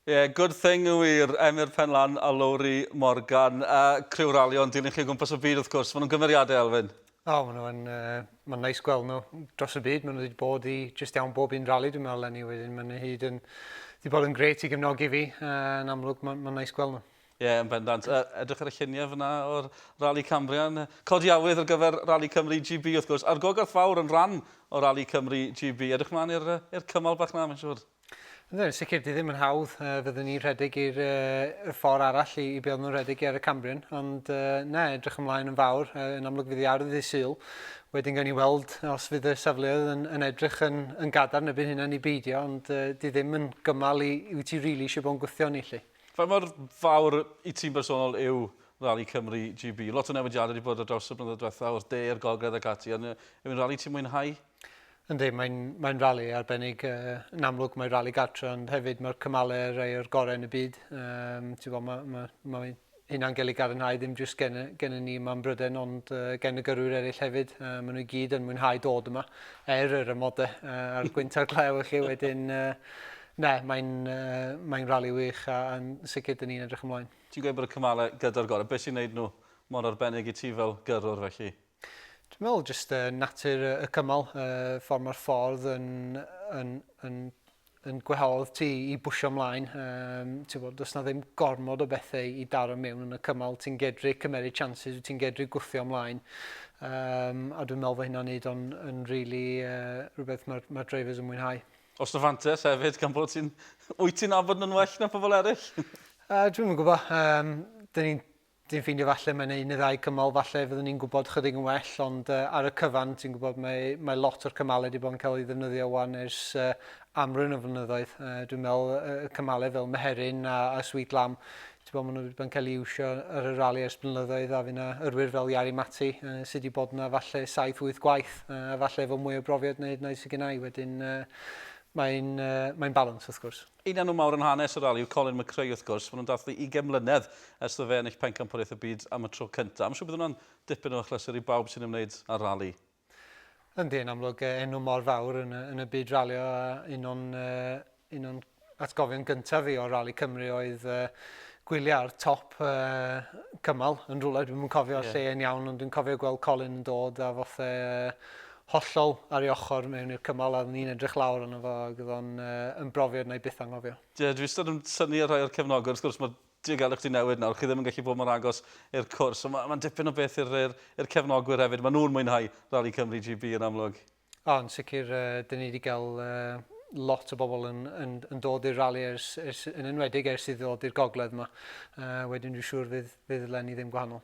Ie, good thing yn wir, Emyr Penlan a Lowri Morgan. A criw ralio yn dilyn chi o gwmpas y byd wrth gwrs, maen nhw'n gymeriadau Elfyn. O, maen nhw'n, uh, mae'n neis gweld nhw dros y byd, maen nhw wedi bod i just iawn bob un rali dwi'n meddwl lenni wedyn, maen nhw hyd yn, wedi bod yn gret i gefnogi fi, uh, yn amlwg mae'n ma neis gweld nhw. Ie, yeah, yn bendant. Uh, edrych ar y lluniau fyna o'r Rali Cambrian. Codi awydd ar gyfer Rali Cymru GB, wrth gwrs, a'r gogarth fawr yn rhan o Rali Cymru GB. Edrych mlaen i'r cymal bach na, mae'n siŵr. Ynddo, yn sicr, di ddim yn hawdd. Uh, fyddwn ni'n rhedeg i'r uh, ffordd arall i, i be nhw'n rhedeg ar y Cambrian, ond uh, na, edrych ymlaen yn fawr, uh, yn amlwg fydd i ardd i syl. Wedyn gawn ni weld os fydd y safleoedd yn, yn edrych yn, yn gadarn y byd hynna ni beidio, ond uh, di ddim yn gymal i, i wyt ti rili really eisiau bod yn gwythio ni, lle. Fe mor fawr i ti'n bersonol yw Rally Cymru GB? Lot o newidiadau wedi bod ar draws y blynyddoedd diwethaf, o'r de i'r gogledd ac ati, ond yw'n rally ti'n mwynhau? Yndi, mae'n, mae'n rali arbennig. Uh, yn amlwg mae rali gartre, ond hefyd mae'r cymalau rhai o'r gorau yn y byd. Um, bod, mae, mae, mae hynna'n gael ei garinhau ddim jyst gen, gen ni yma yn Bryden, ond uh, gen y gyrwyr eraill hefyd. Uh, maen nhw i gyd yn mwynhau dod yma, er yr ymodau uh, a'r gwynt a'r glew chi wedyn. Uh, ne, mae'n uh, mae rali wych a, a sicr dyn ni'n edrych ymlaen. Ti'n gweud bod y cymalau gyda'r gorau. Beth sy'n gwneud nhw mor arbennig i ti fel gyrwr felly? Dwi'n meddwl jyst uh, natur y cymal, uh, ffordd mae'r ffordd yn, yn, yn, yn gwehodd ti i bwysio ymlaen. Um, ti'n bod, does na ddim gormod o bethau i daro mewn yn y cymal. Ti'n gedru cymeriad chances, ti'n gedru gwthio ymlaen. Um, a dwi'n meddwl fod hynna'n neud o'n yn really, uh, rhywbeth mae'r ma drivers yn mwynhau. Os na fantes hefyd, gan bod ti'n... Wyt ti'n abod nhw'n well na pobl eraill? uh, dwi'n gwybod. Um, Dyn ni'n Dwi'n ffeindio falle mae'n un neu ddau cymal falle fyddwn ni'n gwybod chydig yn well, ond uh, ar y cyfan ti'n gwybod mae, mae lot o'r cymalau wedi bod yn cael ei ddefnyddio wan ers uh, amrwyn o flynyddoedd. Uh, dwi'n meddwl uh, cymalau fel Meherin a, a Sweet Lamb, ti'n gwybod maen nhw wedi bod yn cael ei iwsio ar y rali ers blynyddoedd a fyna yrwyr fel Iari Mati uh, sydd wedi bod yna falle 7-8 gwaith uh, a falle efo mwy o brofiad na hyd yn oed sydd gennau wedyn uh, mae'n uh, mae balans wrth gwrs. Un enw mawr yn hanes y rali yw Colin McRae wrth gwrs, maen nhw'n dathlu ugain mlynedd ers iddo fe ennill Pencampwriaeth y Byd am y tro cyntaf. Mae'n siŵr bydd hwnna'n dipyn o achlysur i bawb sy'n ymwneud â'r rali. Yndi, yn amlwg enw mor fawr yn y, yn y byd ralio a un o'n, un o'n atgofion gyntaf fi o Rali Cymru oedd uh, gwyliau ar top uh, cymal yn rhywle, dwi'm yn cofio yeah. lle yn iawn, ond dwi'n cofio gweld Colin yn dod a fothe uh, hollol ar ei ochr mewn i'r cymal a oeddwn i'n edrych lawr arno fo ac oedd o'n yn brofiad wna i byth anghofio. Ie, dwi wastad yn synnu ar rhai o'r cefnogwyr, wrth gwrs mae diogelwch 'di newid nawr, chi ddim yn gallu bod mor agos i'r cwrs, ond mae'n dipyn o beth i'r cefnogwyr hefyd, maen nhw'n mwynhau Rali Cymru GB yn amlwg. O, yn sicr, dyn ni 'di gael lot o bobl yn dod i'r rali yn enwedig ers iddi ddod i'r gogledd 'ma, wedyn dwi'n siŵr fydd lenni ddim gwahanol.